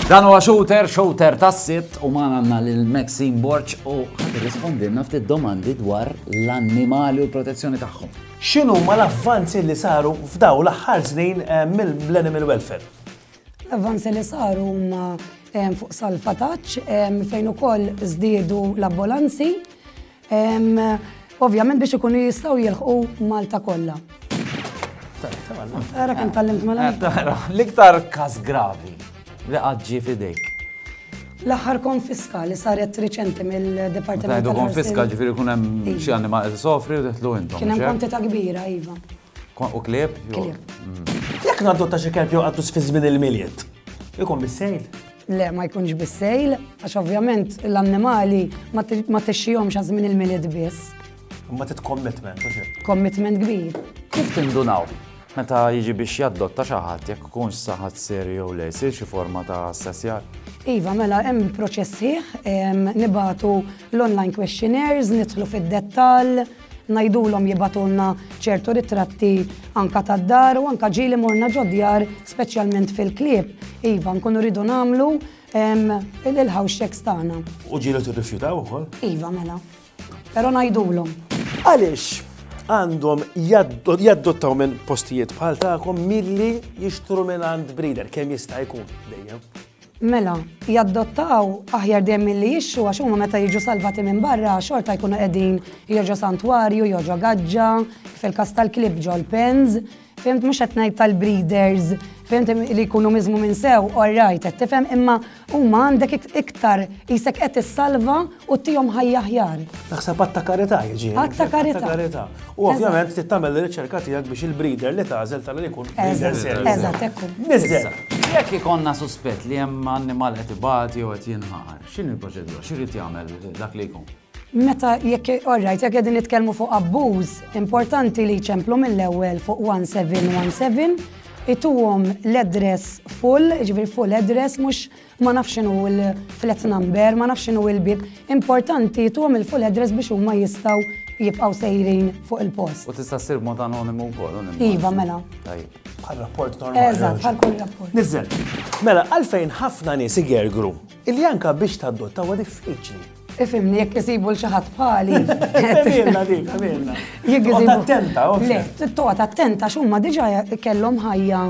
Dan huwa shooter, shooter tas-sitt u ma għandna lil Maxine Borċ u rispondilna ftit domandi dwar l-annimali u l-protezzjoni tagħhom. X'inhu ma l-avvanzi li saru f'daw l-aħħar snin eh, mill-animal welfare? L-avvanzi li saru huma fuq Salfataċ fejn ukoll żdiedu l-ambulanzi ovvjament biex ikunu jistgħu jilħqu Malta kollha. Ara kemm tallimt mela. L-iktar każ gravi li qaġġi fidejk. L-aħħar konfiska li saret riċenti mill-Dipartiment. Konfiska ġifieri kun hemm xi animal sofri u teħtlu intom. Kien hemm kwantità kbira, iva. U klieb? Jekk nadotta xi kelb jew qattus fi żmien il-milied, ikun bis-sejl? Le, ma jkunx bis-sejl, għax ovvjament l-annimali ma tixxihomx għaż żmien il-milied biss. Ma tit commitment, u Commitment kbir. Kif tindunaw? Meta jiġi biex jaddotta xi ħadd jekk ikun saħat ser jew le jsir xi forma ta' assessjar? Iva, mela hemm proċess ħieħ, nibatu l-online questionnaires, nidħlu fid-dettall, ngħidulhom jibagħtulna ċertu ritratti anke tad-dar u anke ġieli morna ġod-djar speċjalment fil-klieb, iva, nkunu rridu nagħmlu il-house checks tagħna. U ġieli tirrifjutaw ukoll? Iva, mela. Però ngħidulhom. Għaliex għandhom jaddottaw minn postijiet bħal tagħkom milli jixtru minn għand breeder kemm jista' jkun dejjem. Mela, jaddottaw aħjar dejjem milli jixtru għax huma meta jiġu salvati minn barra xorta jkunu qegħdin jew ġo santwarju, jew ġo gaġġa, fil-każ tal-klieb ġo l-pens, fihimt mhux qed ngħid tal-breeders, fihimt li jkunu miżmumin sew, all right qed tifhem, imma huma għandek iktar qisek qed issalva U tihom ħajja aħjar. Naħseb għatta karità jiġi. Għatta karità. U ovvjament tittamel l-riċerka tiegħek biex il-breeder li tażel tal ikun breeder serju. Eżatt, ekku. Nizzel. Jekk ikonna suspett li hemm annimal qed ibati jew qed jinħar, x'in il-proċedura? X'irid jagħmel dak li jkun? Meta jekk orrajt jekk qegħdin nitkellmu fuq abbuż, importanti li jċemplu mill-ewwel fuq 1717 ituhom l-address full, ġifieri full address mhux ma nafx x'inhu l-flat number, ma nafx x'inhu l-bieb, importanti tuhom il-full address biex huma jistgħu jibqgħu sejrin fuq il-post. U tista' ssir mod anonimu wkoll, u nimma. Iva, mela. Tajjeb. Bħal rapport normali. Eżatt, bħal kull rapport. Nizzel. Mela, għalfejn ħafna nies igergru illi anke biex tadotta huwa diffiċli. Ifimni, jekk isibu l-xaħat bħali. Għamilna dik, għamilna. Jekk isibu. Attenta, ok. Le, toqgħod attenta x'huma diġà kellhom ħajja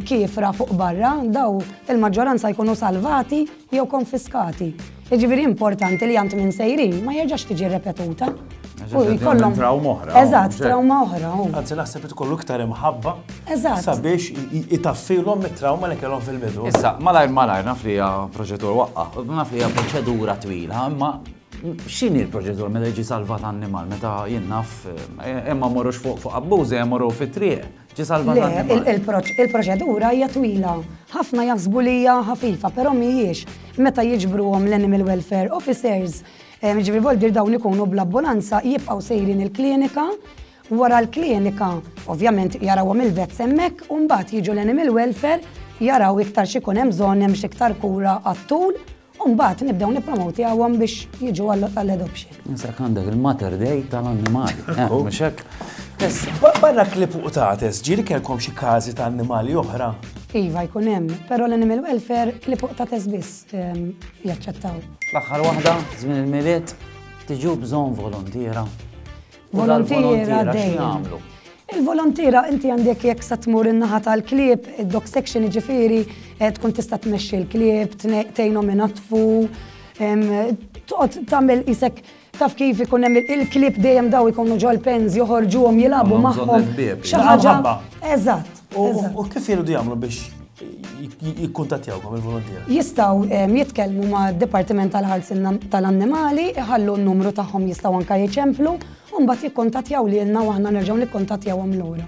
kifra fuq barra, daw il-maġġoranza jkunu salvati jew konfiskati. Jiġifieri importanti li għand minn sejrin ma jerġax tiġi repetuta. U jkollhom trawma oħra. Eżatt, trawma oħra. Anzi, naħseb li tkollu iktar imħabba. Eżatt. Sabiex itaffilhom mit-trawma li kellhom fil-bidu. Issa, malajr malajr naf li hija proġettur waqqa, naf li hija proċedura twila, imma x'inhi l-proċedura meta jiġi salvat annimal, meta jinnaf, eh, imma morrux fuq fuq abbużi, eh, morru fit-triq, ġi salvat annimal. Il-proċedura hija twila, ħafna jaħsbu li hija ħafifa, però mhijiex. Meta jiġbruhom l-Animal Welfare Officers, Jiġifieri voldir dawn ikunu bl-abbulanza jibqgħu sejrin il-klinika, wara l-klinika ovvjament jarawhom il-vets hemmhekk u mbagħad jiġu l-animal welfare jaraw iktar x'ikun hemm bżonn hemm x'iktar kura għat-tul u mbagħad nibdew nippromotihom biex jiġu għall-adoption. Insek għandek il-Mater Dei tal-annimali. Mhux hekk? Barra klip u tates, ġieli kellkom xi każi ta' annimali oħra? Iva jkun hemm, però l-animal welfare klip u tates biss. jaċċettaw. L-aħħar waħda, żmien il-milied, tiġu bżonn volontiera. Volontiera dejjem. Il-volontira inti għandek jekk sa tmur in-naħa tal-klieb, id-dog section ġifiri, eh, tkun tista' tmexxi l-klieb, tgħinhom inatfu, toqgħod tagħmel isek Taf kif ikun hemm il-klieb dejjem daw ikunu ġol-pens joħorġuhom jilagħbu magħhom. Xi ħaġa. Eżatt. U kif jridu jagħmlu biex jikkuntattjawkom il-volontier? Jistaw ehm, jitkellmu ma' Dipartiment tal-Ħarsin tal-Annimali, iħallu n-numru tagħhom jistaw anka jiċemplu, u mbagħad jikkuntattjaw lilna u aħna nerġgħu nikkuntattjawhom lura.